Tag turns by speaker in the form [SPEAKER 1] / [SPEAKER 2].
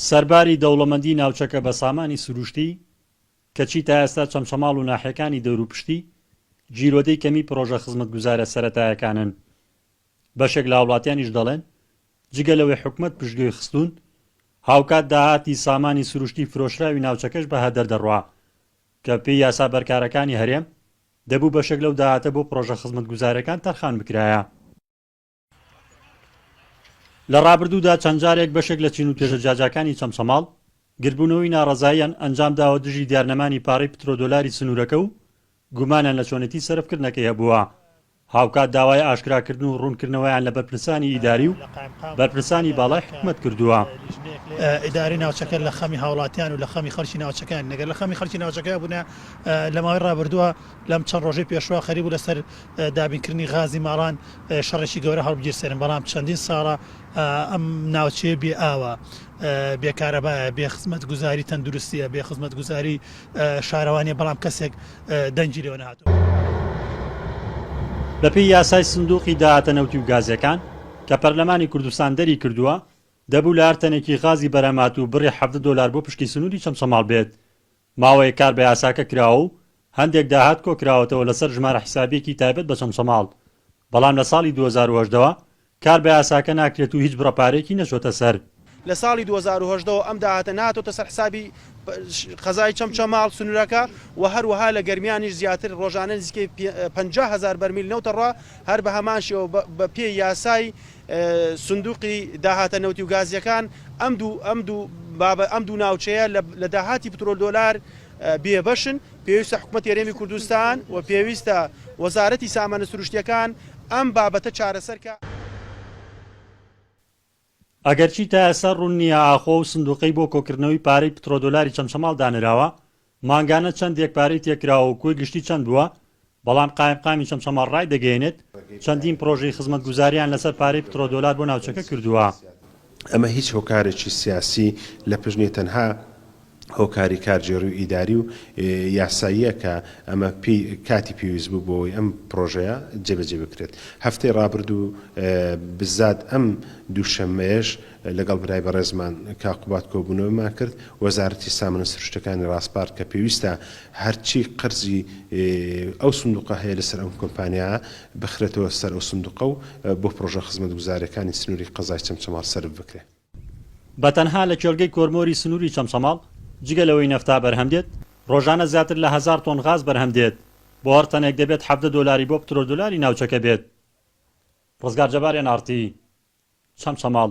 [SPEAKER 1] سەرباری دەوڵەمەندی ناوچەکە بە سامانی سروشتی، کەچی تا ئێستا چەمچەماڵ و ناحیەکانی دەوروپشتی، گیرۆدەی کەمی پرۆژە خزمەتگوزارە سەرەتایەکانن. بەشێک لە هاوڵاتیانیش دەڵێن، جگە لەوەی حکومەت پشتگوێی خستوون، هاوکات داهاتی سامانی سروشتی فرۆشراوی ناوچەکەش بە هەدەر دەڕوا، کە پێی یاسا بەرکارەکانی هەرێم، دەبوو بەشێک لەو داهاتە بۆ پرۆژە خزمەتگوزارەکان تەرخان بکرایە. لە ڕابردوودا چەند جارێک بەشێک لە چین و توێژە جاجاکانی چەمچەماڵ گردبوونەوەی ناڕەزاییان ئەنجام داوە دژی دیارنەمانی پارەی پترۆدۆلاری سنوورەکە و گومانیان لە چۆنێتی سەرفکردنەکەی هەبووە، هاوکات داوای ئاشکراکردن و ڕوونکردنەوەیان لە بەرپرسانی ئیداری و بەرپرسانی باڵای حکومەت کردووە. ئیدارەی
[SPEAKER 2] ناوچەکە لە خەمی هاوڵاتیان و لە خەمی خەڵکی ناوچەکەیان نەگەر لە خەمی خەڵکی ناوچەکە بوونە لە ماوەی ڕابردووە لەم چەند ڕۆژەی پێشووە خەریک بوو لەسەر دابینکردنی غازی ماڵان شەڕێکی گەورە هەڵبگیرسێنن، بەڵام چەندین ساڵە ئەم ناوچەیە بێ ئاوە، بێ کارەبایە، بێ خزمەتگوزاری تەندروستییە، بێ خزمەتگوزاری شارەوانییە، بەڵام کەسێک دەنگی لێوە نەهاتووە.
[SPEAKER 1] بەپێی یاسای سندووقی داهاتە نەوتی و گازییەکان کە پەرلەمانی کوردستان دەریکردووە، دەبوو لە هەر تەنێکی غازی بەرهەمهاتوو بڕی حەڤدە دۆلار بۆ پشکی سنووری چەمچەماڵ بێت ماوەیەک کار بە یاساکە کراوە و هەندێک داهات کۆکراوەتەوە لەسەر ژمارە حیسابییەکی تایبەت بە چەمچەماڵ، بەڵام لە ساڵی دوو هەزار و هەژدە وە کار بە یاساکە ناکرێت و هیچ بڕە پارەیەکی نەچۆتە سەر. لە ساڵی دوو هەزار
[SPEAKER 3] و هەژدە وە ئەم داهاتە نەهاتۆتە سەر حیسابی قەزای چەمچەماڵ سنوورەکە و هەروەها لە گەرمیانیش زیاتر ڕۆژانە نزیکەی پەنجا هەزار بەرمیل نەوتە ڕا، هەر بە هەمان شێوە بە پێی یاسای سندوقی داهاتە نەوتی و گازییەکان ئەم دوو ئەم دوو بابە ئەم دوو ناوچەیە لە داهاتی پترۆل دۆلار بێبەشن پێویستە حکومەت هەرێمی کوردستان و پێویستە وەزارەتی سامانە سروشتیەکان ئەم بابەتە چارەسەر کا.
[SPEAKER 1] ئەگەرچی تا ئێستا ڕوون نییە ئاخۆ ئەو سندوقەی بۆ کۆکردنەوەی پارەی پترۆدۆلاری چەمچەماڵ دانراوە مانگانە چەندێک پارەی تێکراوە و کۆی گشتی چەند بووە، بەڵام قایمقامی چەمچەماڵ ڕایدەگەیەنێت، چەندین پڕۆژەی خزمەتگوزارییان لەسەر پارەی پترۆدۆلار بۆ ناوچەکە کردووە. ئەمە هیچ
[SPEAKER 4] هۆکارێکی سیاسی لە پشت نییە، تەنها هۆکاری کارگێڕی و ئیداری و یاساییە کە ئەمە پێی کاتی پێویست بوو بۆ ئەوەی ئەم پڕۆژەیە جێبەجێ بکرێت. هەفتەی ڕابردوو بززات ئەم دووشەممەیەش لەگەڵ برای بەڕێزمان کاک قوباد کۆبوونەوەمان کرد، وەزارەتی سامانە سروشتەکانی ڕاسپارد کە پێویستە هەرچی قەرزی ئەو سندوقە هەیە لەسەر ئەم کۆمپانیا بخرێتەوە سەر ئەو سندوقە و بۆ پڕۆژە خزمەتگوزارییەکانی سنووری قەزای چەمچەماڵ سەرف بکرێت. بە تەنها
[SPEAKER 1] لە کێڵگەی کۆرمۆری سنووری چەمچەماڵ جگە لەوەی نەفتا بەرهەم دێت، ڕۆژانە زیاتر لە هەزار تۆن غاز بەرهەم دێت، بۆ هەر تەنێک دەبێت حەڤدە دۆلاری بۆ پترۆدۆلاری ناوچەکە بێت. ڕزگار جەبار، ئێن ئاڕ تی، چەمچەماڵ.